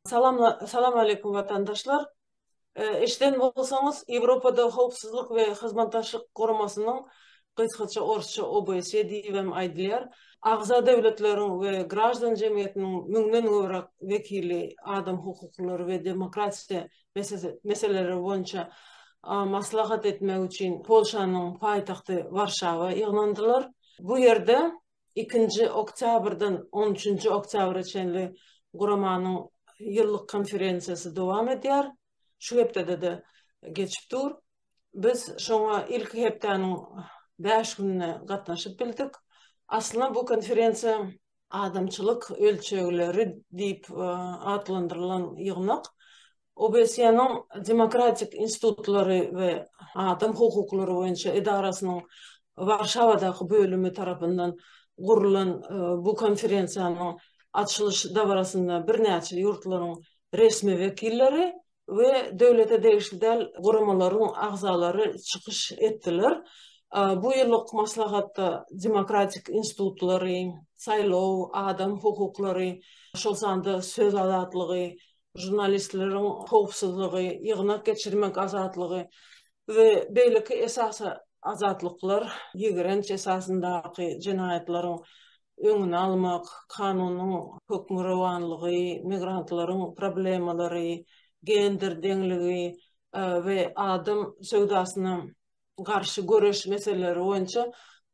Salam Salam Aleýkum Watandaşlar. Eşiden bolsaňyz Ýewropada Howpsuzlyk we Hyzmatdaşlyk Guramasynyň, gysgaça orsça OBSE diýibem aýdylýar, agza döwletleriň we graždan jemgyýetiniň müňden gowrak wekili adam hukuklary we demokratiýa meseleleri boýunça maslahat etmek üçin Polşanyň paýtagty Warşawa ýygnandylar. Bu ýerde ikinji oktýabrdan on üçünji oktýabra çenli guramanyň ýyllyk konferensiýasy dowam edýär. Şu hepdede-de geçip dur. Biz şoňa ilki hepdäniň bäş gününe gatnaşyp bildik. Aslynda bu konferensiýa adamçylyk ölçegleri diýip atlandyrylan ýygnak OBSE-niň Demokratik institutlary we adam hukuklary boýunça edarasynyň Warşawadaky bölümi tarapyndan gurlan bu konferensiýanyň açylyş dabarasynda birnäçe ýurtlaryň resmi wekilleri we döwlete degişli däl guramalaryň agzalary çykyş etdiler. Bu ýyllyk maslahatda demokratik institutlary, saýlaw, adam hukuklary, şol sanda söz azatlygy, žurnalistleriň howpsuzlygy, ýygnak geçirmek azatlygy we beýleki esasy azatlyklar, ýigrenç esasyndaky jenaýatlaryň öňüni almak, kanunyň hökmürowanlygy, migrantlaryň problemalary, gender deňligi we adam söwdasyna garşy göreş meseleleri boýunça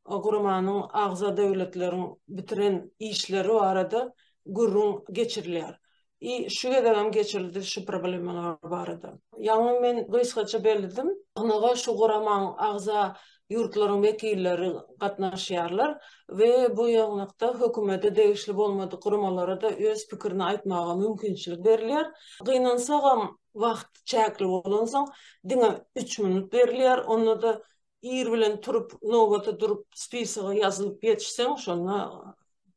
guramanyň agza döwletleriň bitiren işleri barada gürrüň geçirilýär. I şu gezegem geçirildi şu problemalar barada. Ýaňy men gysgaça belledim. Ynha şu guramaň agza ýurtlaryň wekilleri gatnaşýarlar we bu ýygnakda hökümete degişli bolmadyk guramalara-da öz pikirini aýtmaga mümkinçilik berilýär. Gynansagam wagt çäkli bolansoň diňe üç minut berilýär, onda-da ir bilen turup nobata durup spisoga ýazylyp ýetişseň şonda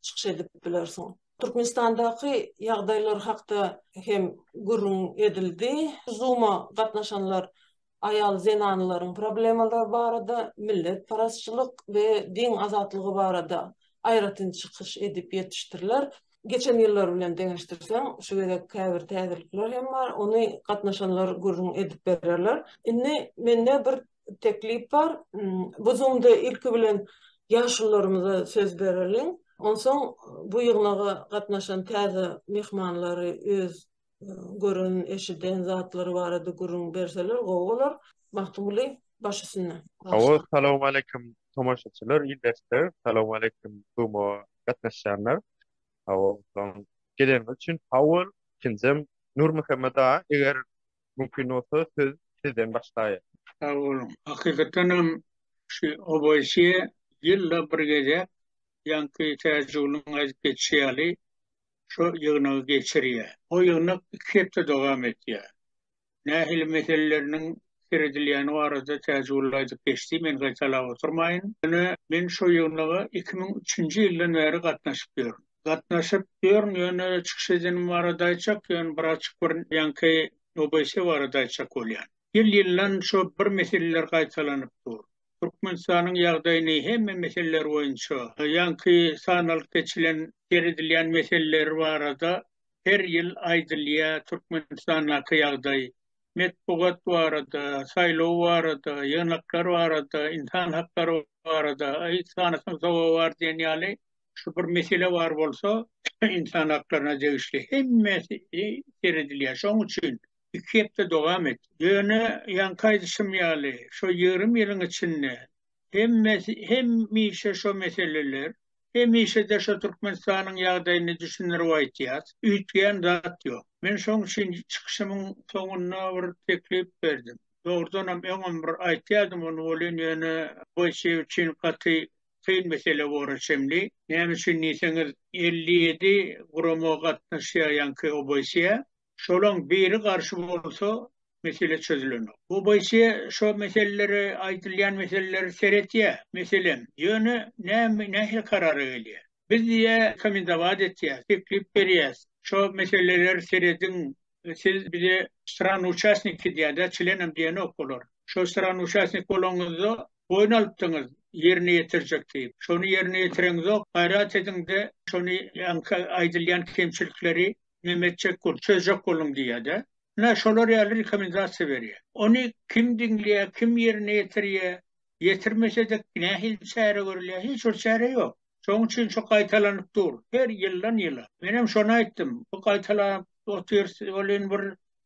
çykyş edip bilersiň. Türkmenistandaky ýagdaýlar hakda hem gürrüň edildi. Zuma gatnaşanlar aýal zenanlaryň problemalary barada, milletparazçylyk we din azatlygy barada aýratyn çykyş edip ýetişdirler. Geçen ýyllar bilen deňeşdirseň şu gezek käbir täzelikler hem bar, ony gatnaşanlar gürrüň edip bererler. Indi mende bir teklip bar. Bu zoomda ilki bilen ýaşulularymyza söz bereliň. Onsoň bu ýygnaga gatnaşan täze myhmanlary öz gören, eşiden zatlary barada gürrüň berseler gowy bolar. Magtymguly, baş üstünde. Hawa, salowmaleýkim tomaşaçylar, ildeşler, salowmaleýkim zooma gatnaşýanlar. Hawa, salam. Geleniňiz üçin sag bol. Ikinjim, Nurmuhammet aga, eger Mümkin bolsa söz sizden başlaýyn. Sag boluň. Hakykatdan hem şu oboesiýa ýylda bir gezek ýaňky täjigulyň aýdyp geçişi ýaly şo ýygnagy geçirýär. O ýygnak iki hepde dowam etýär. Nähili meseleleriniň seredilýäni barada täjigul aýdyp geçdi, men gaýtalap oturmaýyn. Ýöne men şo ýygnaga iki müň üçünji ýyldan bäri gatnaşyp ýörün. Gatnaşyp ýörün ýöne çykyş edenim barada aýtjak ýöne bir açyk bir ýaňky OBS barada aýtjak bolýan. Ýyl ýyldan şo bir meseleler gaýtalanyp dur. Türkmenistanyň ýagdaýyny hemme meseleler boýunça ýaňky sanalyp geçilen seredilýän meseleleri barada her ýyl aýdylýa Türkmenistandaky ýagdaý metbugat barada saýlaw barada ýygnaklar barada ynsan haklary barada aý sanasaň sowagy bar diýen ýaly şu bir mesele bar bolsa, ynsan haklaryna degişli hemmesi seredilýär. Şoň üçin iki hepde dowam et. Ýöne ýaňky aýdyşym ýaly, şu ýigrimi ýylyň içinde hemmesi hemişe şu meseleler, hemişe-de şu Türkmenistanyň ýagdaýyny düşündirip aýtýas, üýtgän zat ýok. Men şoň üçin çykyşymyň soňunda bir teklip berdim. Dogrudanam öňem bir aýtýardym ony welin ýöne Boýçew üçin gaty kyn mesele bora çenli. Näme üçin diýseňiz, elli ýedi gurama gatnaşýar ýaňky OBSE-ä. Şolaň biri garşy bolsa, mesele çözülenok. OBSE şo meselelere, aýdylýan meselelere seretýär, meselem, ýöne näme, nähili karara gelýär? Biz diýýär, rekomendować etýäs, teklip berýäs, şo meseleleri serediň, Siz bize strany uçastniki diýýärdi, çlenem diýenok olar. Şo strany uçastnik bolanyňyzda boýun alypdyňyz ýerine ýetirjek diýip. Şony ýerine ýetireňizok. Gaýrat ediňde şony ýaňky aýdylýan kemçilikleri neme etjek boluň, çözjek boluň diýýärdi. Ine şolar ýaly rekomendasiýa berýär. Ony kim diňleýär, kim ýerine ýetirýär? Ýetirmesede nähili çäre görülýär? Hiç bir çäre ýok. Şoň üçin şu gaýtalanyp dur. Her ýyldan ýyla. Menem şony aýtdym. Bu gaýtalanyp otyrs welin bir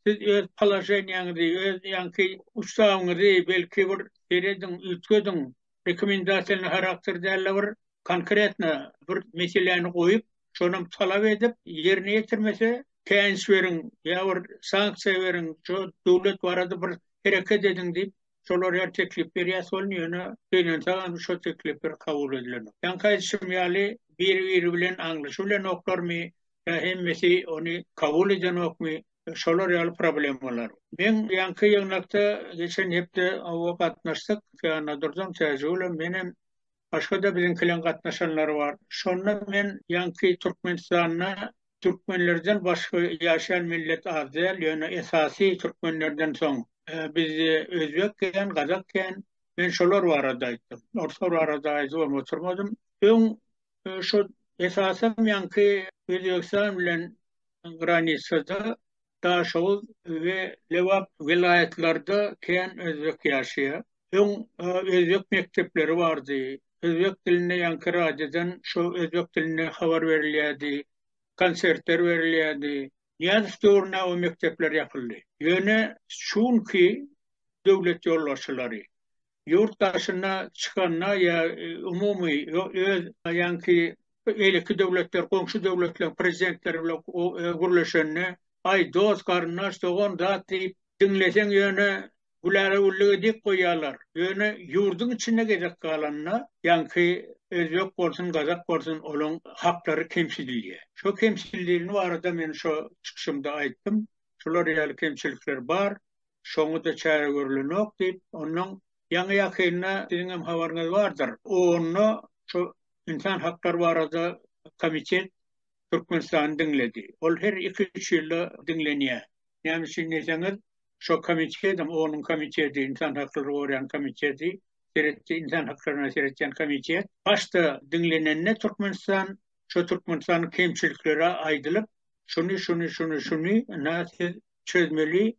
siz öz položeniýaňyzy, öz ýaňky ustawyňyzy belki bir serediň, üýtgediň. Rekomendasiýalny harakter däl-de bir konkretno bir meseläni goýup, şonam talap edip, ýerine ýetirmese, käýinç beriň ýa bir sanksiýa beriň, şu döwlet barada bir hereket ediň diýip, Şolar her teklip berýär, şonuň ýöne gynansaňam şo teklipler kabul edilenok. Ýaňky aýdyşym ýaly, biri-biri bilen aňlaşy bilenoklarmy ýa hemmesi ony kabul edenokmy, şolar ýaly problemalar. Men ýaňky ýygnakda geçen hepde oňa gatnaşdyk, Känadurdan Täjigulem menem başga-da biziňkileň gatnaşanlary bar. Şonda men ýaňky Türkmenistanda türkmenlerden başga ýaşaýan millet az däl, ýöne esasy türkmenlerden soň bizde özbek kän, gazak kän. Men şolar barada aýtdym. Orslar barada aýdybam oturmadym. Öň şu esasan ýaňky Özbegistan bilen granitsada Daşoguz we Lebap welaýatlarda kän özbek ýaşaýar. Öň özbek mekdepleri bardy. Özbek dilinde ýaňky radiodan şo özbek dilinde habar berilýärdi, konsertler berilýärdi. Nyýazow döwründe o mekdepler ýapyldy. Ýöne şu günki döwlet ýolbaşçylary ýurt daşyna çykanda ýa umumy öz ýaňky beýleki döwletler goňşy döwletleriň prezidentleri bilen gürleşende aý dost garyndaş dogan zat diýip diňleseň ýöne gülälewülligi dik goýýarlar ýöne ýurduň içinde gezek galanda ýaňky özbek bolsun gazak bolsun olaň haklary kemsidilýär şo kemsidileni barada men şo çykyşymda aýtdym şular ýaly kemçilikler bar Şoňa-da çäre görülenok diýip, ondan ýaňy-ýakynda, siziň hem habaryňyz bardyr, OON-da şu ynsan haklary barada komitet Türkmenistany diňledi. Ol her iki-üç ýylda diňlenýär. Näme üçin diýseňiz, şo komitetem, OON-yň komiteti, ynsan haklary goraýan komiteti, seretdi, ynsan haklaryna seretýän komitet. Başda diňlenende Türkmenistan, şo Türkmenistanyň kemçilikleri aýdylyp, şuny, şuny, şuny, şuny, ynha siz çözmeli.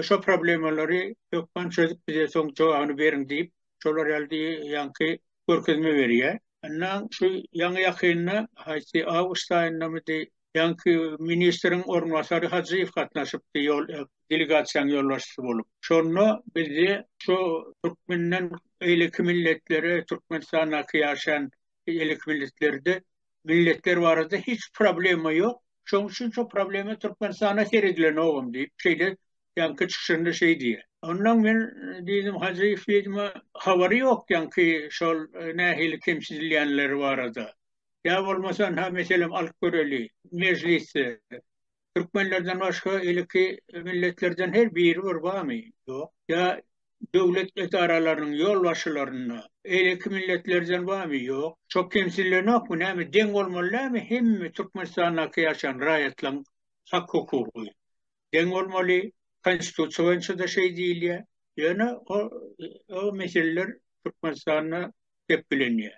Şo problemalary hökman çözüp bize soň jogabyny beriň diýip, şolar ýaly ýaňky görkezme berýär. Ynha, şu ýaňy-ýakynda, haýsy awgust aýyndamydy, ýaňky ministriň orunbasary Hajyýew gatnaşypdy, ýol, delegasiýanyň ýolbaşçysy bolup. Şonda bizi şo türkmenden beýleki milletlere, Türkmenistandaky ýaşaýan beýleki milletlerde milletler barada hiç problema yok. Şoň üçin şu problema Türkmenistana seredilenogyň diýip, şeýle ýaňky çykyşynda şeý diýýär. Ondan men diýdim Hajyýew diýdim, habary ýok ýaňky şol e, nähili kemsidilýänleri barada. Ýa bolmasa ha meselem alyp göreli mejlisde. Türkmenlerden başga iliki milletlerden her biri bir barmy? Ýok. Ýa döwlet edaralarynyň ýolbaşçylarynda iliki milletlerden barmy? Ýok. Şo kemsinlenokmy? Näme deň bolmaly näme hemme Türkmenistandaky ýaşan raýatlaryň hak-hukugy? Deň bolmaly. Konstitusiýa boýunça-da şeý diýilýär. Ýöne o meseleler Türkmenistanda gep bilinýär.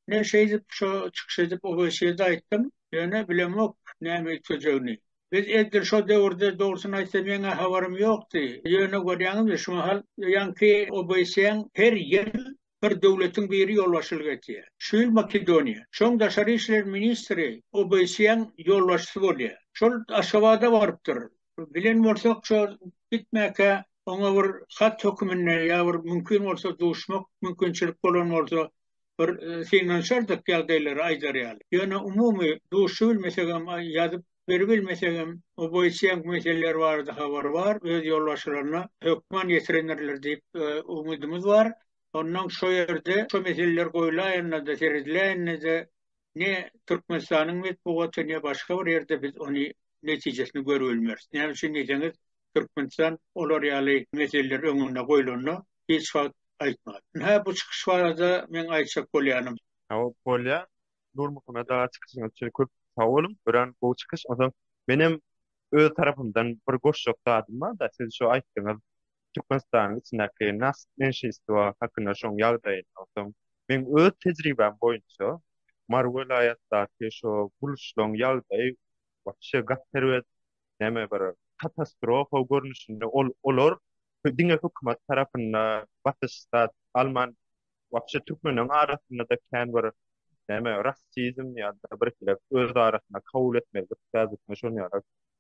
Men şeýdip, şo çykyş edip Oweýsede aýtdym, ýöne bilemok näme üýtgejegini. Biz edil şo döwürde, dogrusyny aýtsam, ýeňňä habarym ýokdy, ýöne görýäňizmi, şu mahal ýaňky Oweýseň her ýyl bir döwletiň biri ýolbaşçylyk edýär. Şu ýyl Makedoniýa. Şoň daşary işler ministri Oweýseň ýolbaşçysy bolýar. Şol Aşgabada barypdyr. Bilen bolsak, şo gitmäkä oňa bir hat höküminde ýa bir mümkin bolsa duşmak mümkinçilik bolan bolsa, bir synanyşardyk ýagdaýlary aýdar ýaly. Ýöne umumy duşy bilmesegem ýazyp beribilmesegem o boýuça meseleler barada habary bar, öz ýolbaşçylaryna hökman ýetirendirler diýip umydymyz bar. Onnoň şo ýerde şo meseleler goýlaýanda-da, serediläýende-de ne Türkmenistanyň metbugaty, ne başga bir ýerde biz ony netijesini görüp bilmeris. Näme üçin diýseňiz, Türkmenistan olar ýaly meseleler öňünde goýlanda hiç wagt aýtmady. Hä, bu çykyş barada meň aýtjak bolýanym. Hawa, bolýar. Nurmuhammet aga çykyşyňyz üçin köp sag boluň. Örän gowy çykyş. Onsoň menem öz tarapymdan bir goşjak zadym bar-da, siz şu aýtdyňyz. Türkmenistanyň içindäki nagt menşeistwo hakynda şoň ýagdaýyny okdum. Meň öz tejribäm boýunça Mary welaýatdaky şo gurluşlaň ýagdaýy wapşe gap terbet näme bir katastrofa görnüşinde ol olar diňe hökümet tarapynda basyş zat alman wapşe türkmenleň arasynda-da kän bir näme rassizm ýa-da birhili öz arasynda kabul etmezlik käbirine şon ýaly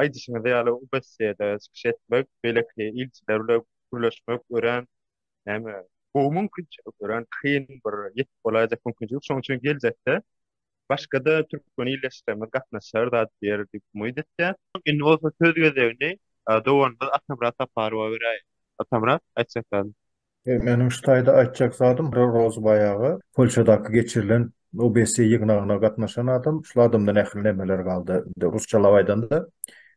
Aýdyşyňyz ýaly, OBSE-de çykyş etmek, beýleki ilçiler bilen gürleşmek örän näme, gowy mümkinçilik, örän kyn bir ýetip bolaýjak mümkinçilik. Şonuň üçin geljekde başga-da türkmen ildeşlerimiz gatnaşar zat biýer diýip umyt etýän. Indi bolsa söz gezegini doganymyz Atamyrat Saparowa beräýin. Atamyrat, aýtjak zadyň? Meniň şu taýda aýtjak zadym Roza baýagy Polşadaky geçirilen OBSE ýygnagyna gatnaşan adam, şul adamda nähili nämeler galdy, indi rusçalap aýdanda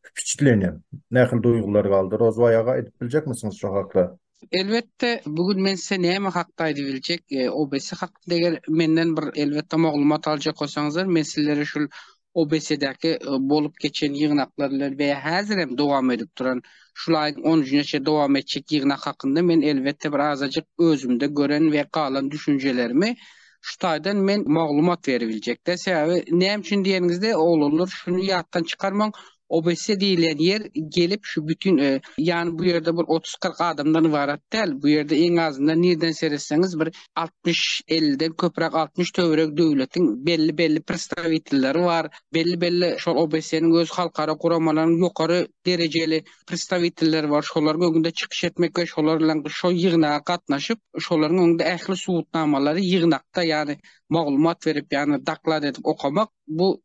wpiçitleniýa, nähili duýgular galdy Roza baýaga aýdyp biljekmisiňiz şo hakda? Elbetde, bu gün men size näme hakda aýdyp biljek, OBSE hakda eger menden bir elbetde maglumat aljak bolsaňyzlar, men sizlere şul OBSE-däki bolup geçen ýygnaklar bilen we häzir hem dowam edip duran, şul aýyň on üçüne çenli dowam etjek ýygnak hakynda men elbetde bir azajyk özümde gören we galan düşünjelerimi şu taýdan men maglumat beribiljek-de. Sebäbi näme üçin diýeniňizde, oglanlar şuny ýatdan çykarmaň, Obesse diýilýän ýer gelip şu bütin ýany bu ýerde bir otuz kyrk adamdan ybarat däl, bu ýerde iň azyndan nireden seretseňiz bir altmyş elden köpräk altmyş töweregi döwletiň belli belli predstawitelleri bar, belli belli şol obesseniň öz halkara guramalaryň ýokary derejeli predstawitelleri bar şolaryň öňünde çykyş etmek we şolar bilen şo ýygnaga gatnaşyp şolaryň öňünde ähli subutnamalary ýygnakda ýany maglumat berip ýany daklad edip okamak bu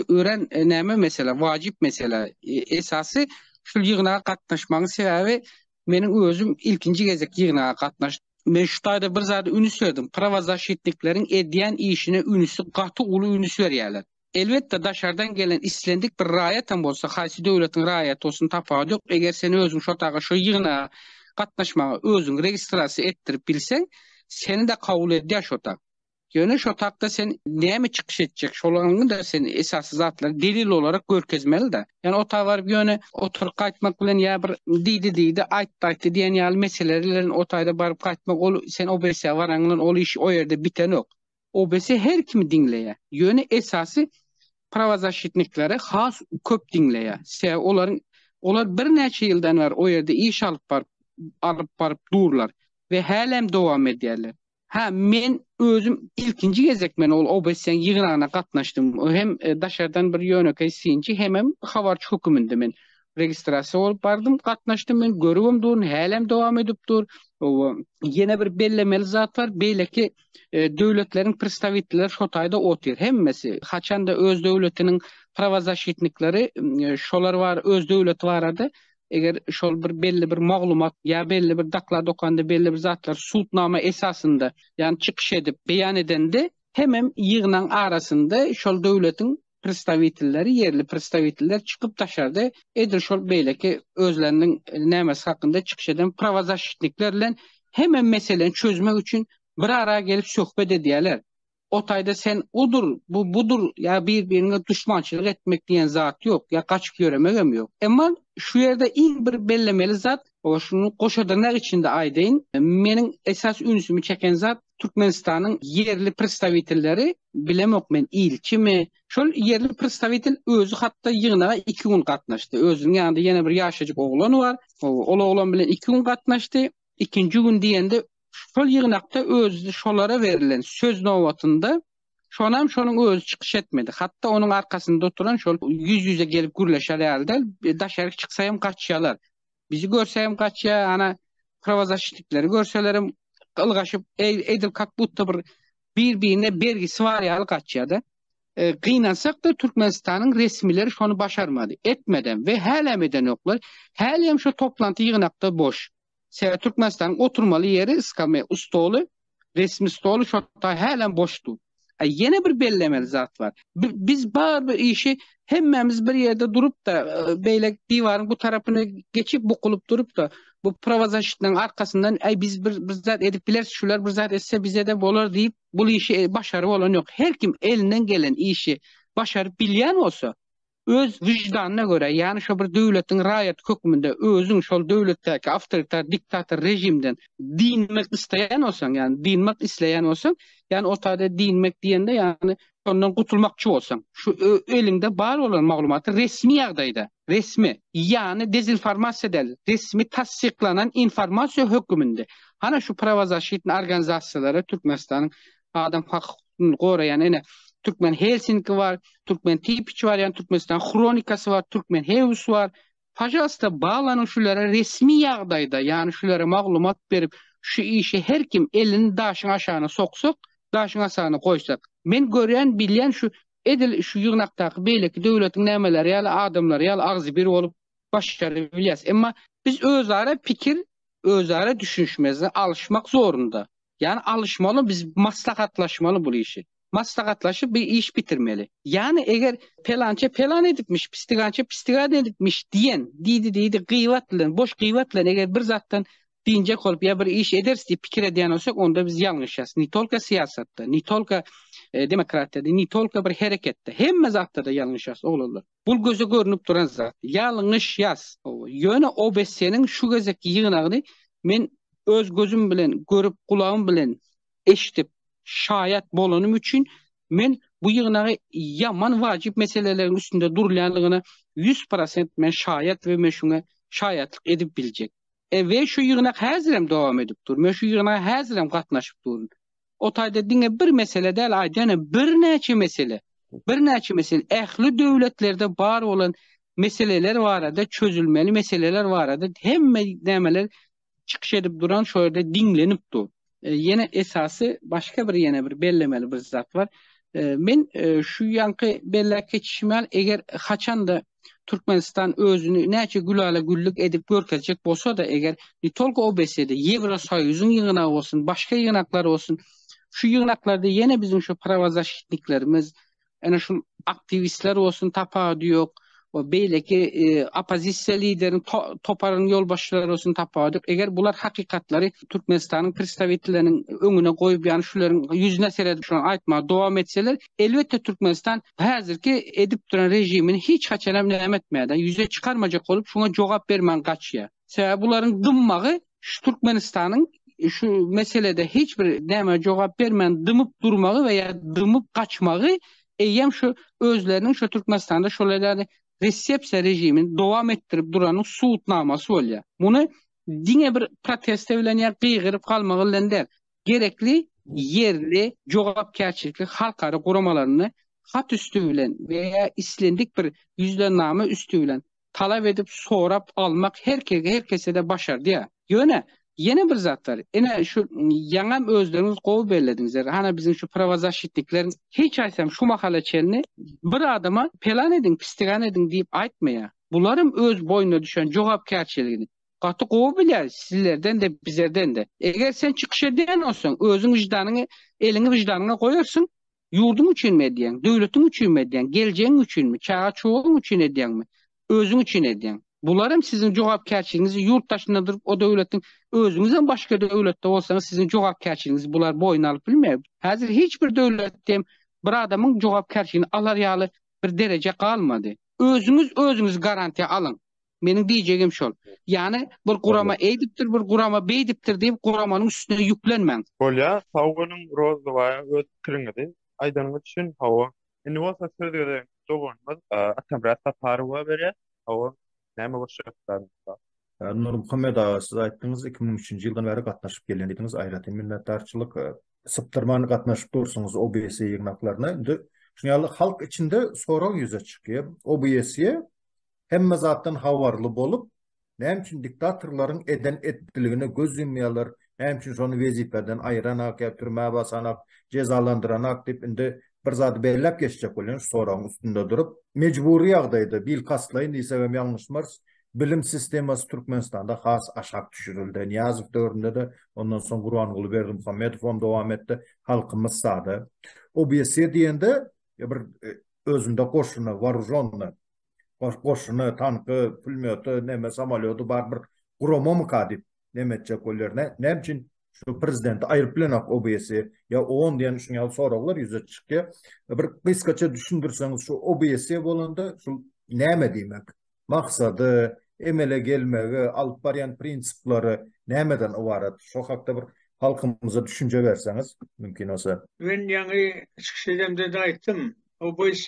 örän näme mesele, wajyp mesele. Esasy şul ýygnaga gatnaşmagyň sebäbi meniň özüm ilkinji gezek ýygnaga gatnaşdym. Men şu taýda bir zada ünüs berdim. Prawozasşitnikleriň edýän işine ünüsi gaty uly ünüs berýärler. Elbetde daşardan gelen islendik bir raýatam bolsa, haýsy döwletiň raýaty bolsun tapawudy ýok, eger sen özüň şo taýda şo ýygnaga gatnaşmaga özüňi registrasiýa etdirip bilseň, seni-de kabul edýär şo taý. Ýöne şo tapda sen näme çykyş etjek, şolaryňda sen esasy zatlary delil olarak görkezmeli-de. Ýani o ta baryp ýöne oturyp gaýtmak bilen ýa bir diýdi diýdi, aýtdy aýtdy diýen ýaly meseleler bilen o taýda baryp gaýtmak ol sen OBSA baraň bilen ol iş o ýerde bitenok. OBSA her kimi diňleýär. Ýöne esasy prawazaşitnikleri has köp diňleýär. Sebäbi olaryň olar birnäçe ýyldan bäri o ýerde iş alyp baryp alyp baryp durlar we hälem dowam edýärler. Hä, men özüm ilkinji gezek men ol OBSE-niň ýygnagyna gatnaşdym. Hem daşardan bir ýönekeý synçy, hemem habarçy höküminde men registrasiýa bolup bardym, gatnaşdym. Men görübem durun, hälem dowam edip dur. Oba, ýene bir bellemeli zat bar, beýleki döwletleriň predstawitelleri şo taýda otyr. Hemmesi, haçan-da öz döwletiniň prawazaşitnikleri, şolar bar, öz döwleti barada eger şol bir belli bir maglumat ýa belli bir doklad okanda belli bir zatlar sudnama esasynda ýani çykyş edip beýan edende hemem ýygnaň arasynda şol döwletiň predstawitelleri ýerli predstawiteller çykyp daşarda edil şol beýleki özleriniň nämesi hakynda çykyş eden prawazaşitnikler bilen hemem meseleni çözmek üçin bir ara gelip söhbet edýärler O taýda sen odur, bu budur ýa bir-biriňe duşmançylyk etmek diýen zat ýok, ýa gaçyp ýöremegem ýok. Emma şu ýerde iň bir bellemeli zat, o şuny goşa dyrnak içinde aýdaýyn, meniň esas ünsümi çeken zat Türkmenistanyň ýerli predstawitelleri, bilemok men ilçimi, şol ýerli predstawitel özi hatda ýygnaga iki gün gatnaşdy. Özüniň ýanynda ýene bir ýaşajyk oglan bar. Ol oglan bilen iki gün gatnaşdy. ikinji gün diýende şol ýygnakda özi şolara berlen söz nobatynda şonam şonuň özi çykyş etmedi. Hatda onuň arkasynda oturan şol ýüz-ýüze gelip gürleşer ýaly däl, daşaryk çyksa hem gaçýalar. Bizi görse hem gaçýa, ana prawazaşitlikleri görselerem ylgaşyp, edil kak butta bir bir-birine bergisi bar ýaly gaçýa-da. e, gynansak-da Türkmenistanyň resmileri şony başarmady. Etmeden we hälem edenoklar. Hälem şu toplanty ýygnakda boş. Sebäbi Türkmenistanyň oturmaly ýeri iskame stoly, resmi stoly şotda hälem boşdy. E, ýene bir bellemeli zat bar. Biz bar bir işi hemmämiz bir ýerde durup da e, beýle diwaryň bu tarapyna geçip bukulyp durup da bu prowazasitniň arkasyndan aý biz bir bir zat edip bileris şular bir zat etse bize de bolar diýip bul işi başary bolan ýok. Her kim elinden gelen işi başaryp bilýän bolsa, öz wyždanyna görä, ýany şo bir döwletiň raýaty hökmünde özüň şol döwletdäki awtoritar diktator režimden dynmak isleýän bolsaň, ýany dynmak isleýän bolsaň, ýany ortada dynmak diýende, ýany ondan gutulmakçy bolsaň, şu eliňde bar bolan maglumaty resmi ýagdaýda, resmi, ýany dezinformasiýa däl, resmi tassyklanan informasiýa höküminde, hana şu prawozaşitni organizasiýalara Türkmenistanyň adam hak hukugyny goraýan ene Türkmen Helsinki bar, Türkmen Tipiç bar, ýani Türkmenistan Hronikasy bar, Türkmen Hews bar, pajalsta baglanyň şulara resmi ýagdaýda, ýani şulara maglumat berip, şu işe her kim elini daşyň aşagyna soksak, daşyň asagyna goýsak, men görýän, bilýän şu Edil şu ýygnakdaky beýleki döwletiň nämeleri ýaly adamlary ýaly agzybir bolup başarybilýäs. Emma biz özara pikir, özara düşünişmezde alyşmak zorunda. Ýani alyşmaly biz maslahatlaşmaly bul işi. Maslahatlaşyp bir iş bitirmeli. Ýani eger pelança pelan edipmiş, pistigança pistigan edipmiş diýen, diýdi diýdi gyýbat bilen, boş gyýbat bilen eger bir zatdan Dynjak bolup ýa bir iş ederis diýip pikir edýän bolsak, onda biz ýalňyşýas. Ne tolko syýasatda, ne tolko demokratiýada, ne tolko bir hereketde. Hemme zatda-da ýalňyşýas, oglanlar. Bul göze görnüp duran zat. Ýalňyşýas. Ýöne OBS-niň şu gezekki ýygnagyny men öz gözüm bilen görüp, gulagym bilen eşidip, şaýat bolanym üçin men bu ýygnagy ýaman wajyp meseleleriň üstünde durulýanlygyna ýüz prosent men şaýat we men şuňa şaýatlyk edip biljek. We şu ýygnak häzirem dowam edip dur. Men şu ýygnaga häzirem gatnaşyp durun. O taýda diňe bir mesele däl, aýdaýynam birnäçe mesele, birnäçe mesele, ähli döwletlerde bar bolan meseleler barada, çözülmeli meseleler barada hemme nämeler çykyş edip duran, şo ýerde diňlenip dur. Ýene esasy başga bir ýene bir bellemeli bir zat bar. Men şu ýanky belläp geçişim ýaly, eger haçan-da Türkmenistan özüni näçe gülala güllük edip görkezjek bolsa-da, eger ne tolko OBSE-de, Ýewrosoýuzyň ýygnagy bolsun, başga ýygnaklar bolsun, şu ýygnaklarda ýene biziň şu prawozasşitniklerimiz, ene şul aktiwistler bolsun tapawudy ýok we beýleki oppozisiýa lideriniň toparynyň ýolbaşçylary bolsun tapawudy ýok. Eger bular hakykatlary Türkmenistanyň predstawitelleriniň öňüne goýup, ýagny şularyň ýüzüne seredip şolary aýtmaga dowam etseler, elbetde Türkmenistan häzirki edip duran režimini hiç haçanam näme etmeýär-de, ýüze çykarmajak bolup, şuňa jogap bermän gaçýar. Sebäbi bularyň dymmagy şu Türkmenistanyň şu meselede hiç bir näme jogap bermän dymyp durmagy we ýa dymyp gaçmagy eýýäm şu özleriniň şu Türkmenistanda şolaýlary resepsiýa režimini dowam etdirip duranyň subutnamasy bolýar. Muny diňe bir proteste bilen ýa gygyryp galmagy bilen däl, gerekli ýerli jogapkärçilikli halkara guramalaryny hat üsti bilen we ýa islendik bir ýüzlename üsti bilen talap edip sorap almak her kege her kesede başardýar. Ýöne ýene bir zat bar. Ine şu ýaňam özleriňiz gowy bellediňizler. Hana biziň şu prawazaşitnikleriň hiç aýsam şu mahala çenli bir adama pelan ediň, pistigän ediň diýip aýtmaýar. Bularam öz boýnuna düşen jogapkärçiligini gaty gowy bilýär sizlerden de bizerden de. Eger sen çykyş edýän bolsaň özüň wyždanyňy eliňi wyždanyňa goýarsyň Ýurduň üçinmi edýäň? Döwletiň üçinmi edýäň? Geljegiň üçinmi? Çaga-çogaň üçin edýäňmi? Özüň üçin edýäň. Bular hem siziň jogapkärçiligiňiz, ýurt daşynda durup o döwletiň, özüňiz hem başga döwletde bolsaňyz siziň jogapkärçiligiňizi bular boýun alyp bilmeýär. Häzir hiç bir döwletde hem bir adamyň jogapkärçiligini alar ýaly bir dereje galmady. Özüňiz özüňizi garantiýa alyň. Meniň diýjegim şol. Ýani bir gurama eýdipdir, bir gurama beýdipdir diýip guramanyň üstüne ýüklenmäň. Bolýa, sag boluň Rozybaýa öz pikiriňizi aýdanyňyz üçin hawa. Indi bolsa söz gezegini doganymyz Atamyrat Saparowa berýär. Hawa, näme goşjak isläniňiz? Nurmuhammet aga siz aýtdyňyz iki müň üçünji ýyldan bäri gatnaşyp gelýän diýdiňiz aýratyn minnetdarçylyk. Sypdyrman gatnaşyp dursuňyz OBS ýygnaklaryna. Indi şuny ýaly halk içinde sorag ýüze çykýar. OBS-e hemme zatdan habarly bolup, näme üçin diktatorlaryň eden etdiligine göz ýumýarlar, näme üçin şony wezipäden aýranak ýa türmä basanak, jezalandyranak diýip indi bir zady belläp geçjek bolýan şu soragyň üstünde durup, mejbury ýagdaýda, bilkastlaýyn diýsek hem ýalňyşmarys, bilim sistemasy Türkmenistanda has aşak düşürildi. Nyýazow döwründe-de, ondan soň Gurbanguly Berdimuhamedow hem dowam etdi, halkymyz sada. Obýeksiýa diýende bir özünde goşuny, woorужёnnyý, goşuny, tanky, pulmýoty, näme samolýody bar bir guramamyka diýip näme etjek bolýar. Näme üçin şu prezidenti aýryp bilenok OBS ýa on diýen şuň ýaly soraglar ýüze çykýar. Bir gysgaça düşündirseňiz şu OBS bolanda şu näme diýmek? Maksady, emele gelmegi, alyp barýan prinsiplary nämeden ybarat? Şu hakda bir halkymyza düşünje berseňiz, mümkin bolsa. Men ýaňy çykyş edemde-de aýtdym. OBS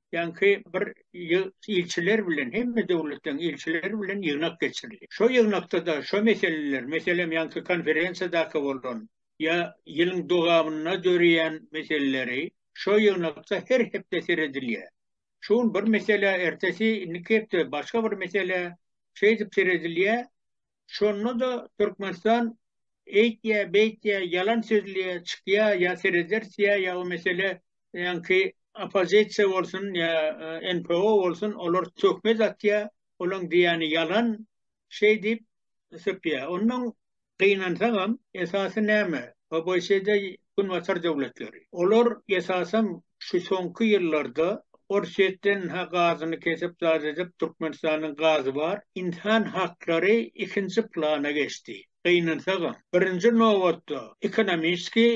ýaňky bir ilçiler bilen, hemme döwletleriň ilçileri bilen ýygnak geçirildi. Şo ýygnakda-da şo meseleler, meselem, ýaňky konferensiýadaky bolan ýa ýylyň dowamynda döreýän meseleleri şo ýygnakda her hepde seredilýär. Şu gün bir mesele, ertesi, indiki hepde başga bir mesele, şeýdip seredilýär. Şonda-da Türkmenistan eýtýä, beýtýä, ýalan sözleýä, çykýa, ýa serederis, ýa ýa o mesele ýaňky oppozisiýa bolsun, ýa NPO bolsun, olar töhmet atýa, olaň diýýäni ýalan, şeý diýip, sypýa. Ondan gynansagam, esasy näme? ABŞ-da Günbatar döwletleri. Olar, esasan, şu soňky ýyllarda Orsýetden ha gazyny kesip zat edip, Türkmenistanyň gazy bar, ynsan haklary ikinji plana geçdi. Gynansagam, birinji nobatda ekonomiski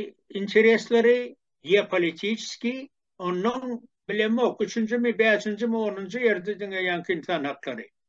interesleri, geopolitiski, onnoň, bilemok, üçünjimi, bäşinjimi, onunjy ýerde diňe ýaňky ynsan haklary.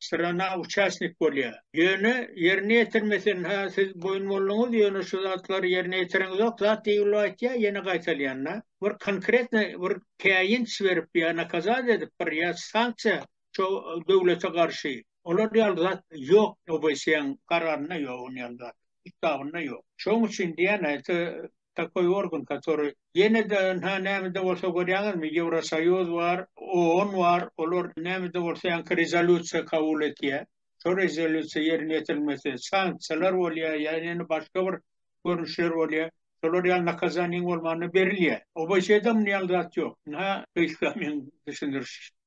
syrana uçastnik bolýar. Ýöne ýerine ýetirme sen ha siz boýun bolduňyz ýöne şu zatlary ýerine ýetiriňizok zat diýilip aýtýar ýene gaýtalýanda bir konkretny bir käýinç berip ýa nakazat edip bir ýa sanksiýa şo döwlete garşy olar ýaly zat ýok obsýaň kararynda ýok ony ýaly zat ustabynda ýok şoň üçin diýýän aýty takoý organ, katory ýene-de ynha nämede bolsa görýäňizmi, Ýewrosoýuz bar, OON bar, olar nämede bolsa ýaňky rezolýusiýa kabul etýär. Şo rezolýusiýa ýerine ýetirilmese, sanksiýalar bolýar, ýa ýene başga bir görnüşler bolýar. Şolar ýaly nakazaniýaň bolmanda berilýär. OBŞ-da muny ýaly zat ýok. Ynha gysga meň düşündirişim.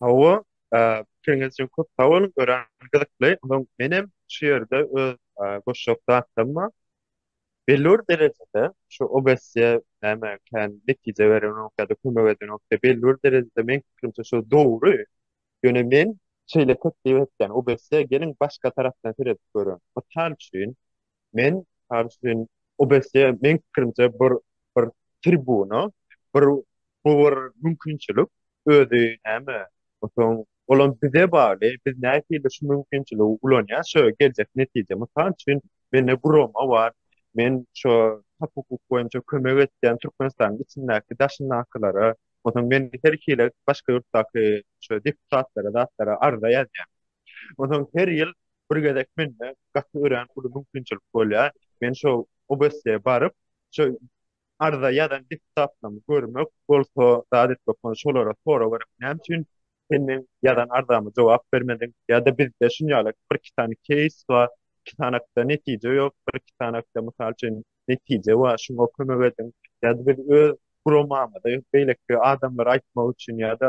Hawa, pikiriňiz üçin köp sag boluň, örän gyzykly. Ondan menem şu ýerde öz goşjak zatlarym Belli bir derejede şu obesiýa näme kän netije berenok ýa-da kömek edenok diýip, belli bir derejede meň pikirimçe şu dogry. Ýöne men şeýle teklip etýän, obesiýa geliň başga tarapdan seredip görüň. Mysal üçin, Men Karşin Obesje men pikirimçe bir bir tribuna bir bu bir mümkinçilik özi näme otuň olam bize bagly biz nähili şu mümkinçiligi ulanýas şu geljek netije mysal üçin mende gurama bar men şu hak hukuk boýunça kömek etýän Türkmenistanyň içindäki daşyndakylara otuň men her hili başga ýurtdaky şu deputatlara zatlara arza ýazýan otuň her ýyl Bir gezek mende gaty örän uly mümkinçilik bolýar. Men şo OBSe baryp, şo arza ýazan deputatlarymy görmek, bolsa zat etmek bolan şolara sorag berip, näme üçin sen meň ýazan arzama jogap bermediň? Ýa-da bizde şuny ýaly birki sany keýs bar, iki sanakda netije ýok, birki sanakda, mysal üçin, netije bar, şuňa kömek ediň. Ýa-da biz öz guramamyzy beýleki adamlara aýtmak üçin ýa-da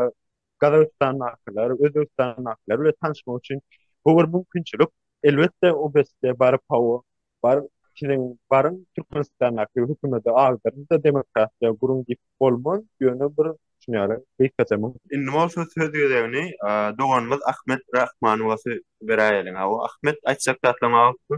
Gazagystandakylar, Özbegistandakylar bilen tanyşmak üçin bu bir mümkinçilik. Elbetde, OBSD-e baryp, hawa, baryp, siziň baryň, Türkmenistandaky hökümede agdaryň-da, demokratiýa guruň diýip bolmaz, ýöne bir düşünýärin, gysgaça mümkin. Indi bolsa söz gezegini doganymyz Ahmet Rahmanowa beräýeliň. Hawa, Ahmet, aýtjak zatlaryň barypmy?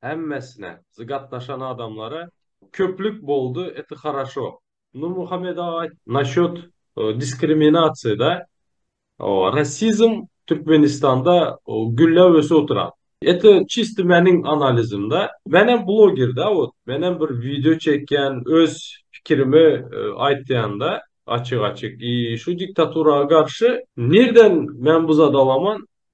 hemmesine z gatnaşan adamlara köplük boldy eti haraşo. Nurmuhammet aga naşot diskriminasiýada rasizm türkmenistanda gülläp ösüp oturan eti çisti meniň analizimde menem blogerde ot menem bir wideo çekýän öz pikirimi aýtýanda açyk açyk i şu diktaturaga garşy nirden men bu zat alaman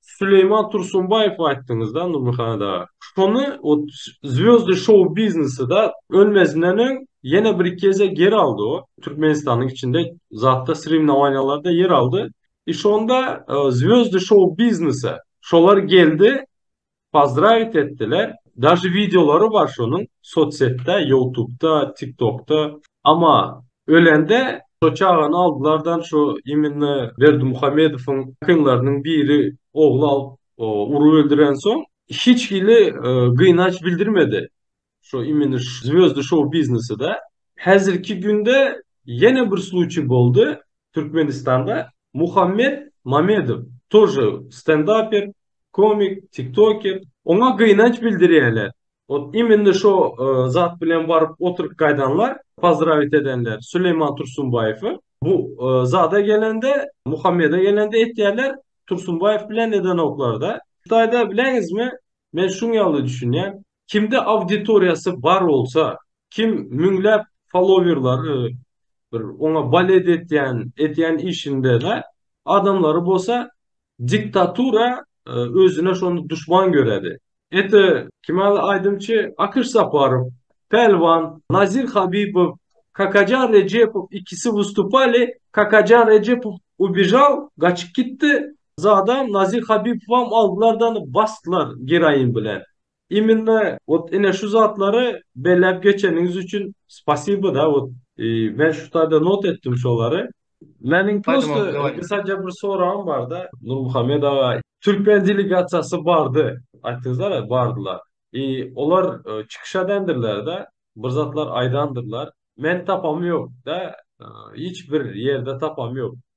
Süleýman Tursunbaýew aýtdyňyzda Nurmuhada. Şony ot Zwýozdy şou biznesida ölmezinden öň ýene bir iki gezek ýer aldy o. Türkmenistanyň içinde zatda srimnowaniýalarda ýer aldy. I şonda Zwýozdy şou biznese şolar geldi. Pozdravit etdiler daže wideolary bar şonuň sotsetda ýoutubda tiktokda. Ama ölende şo çagany aldylardan şo iminna Berdimuhamedowyň akynlarynyň biri ogly alyp urup öldürensoň hiç hili gynaç bildirmedi Şu imeni zwýozdy şou biznesida häzirki günde ýene bir sluçiý boldy. Türkmenistanda Muhammet Mamedow tor stendaper, komik, tiktoker. Oňa gynanç bildirýärler. Ot imeni şo zat bilen baryp oturyp gaýdanlar, pozdrawit edenler Süleýman Tursunbaýewi. Bu zada gelende, Muhammede gelende etýärler, Tursunbaýew bilen edenoklarda. Hytaýda bileňizmi, men şuň ýaly düşünýän. Kimde auditoriýasy bar bolsa, kim müňläp falowerlary, bir oňa balet etýän, edýän işinde-de adamlary bolsa diktatura özüne şony duşman göredi. Ete kimäli aýdymçy Akyş Saparow, Pälwan, Nazir Habibow, Kakajan Rejepow ikisi wystupali, Kakajan Rejepow ubejal, gaçyp gitdi, zadam Nazir Habibowam aldylar-da ony basdylar geroin bilen. Immine ot ine şu zatlary belläp geçeniňiz üçin spasibo da ot men şu taýda not etdim şolary. Meniň prosto gysaja bir soragym barda Nurmuhammet aga. Türkmen delegasiýasy bardy aýtdyňyzlara bardylar. I olar çykyş edendirler da bir zatlar aýdandyrlar. Men tapamyok da hiç bir ýerde tapamyok.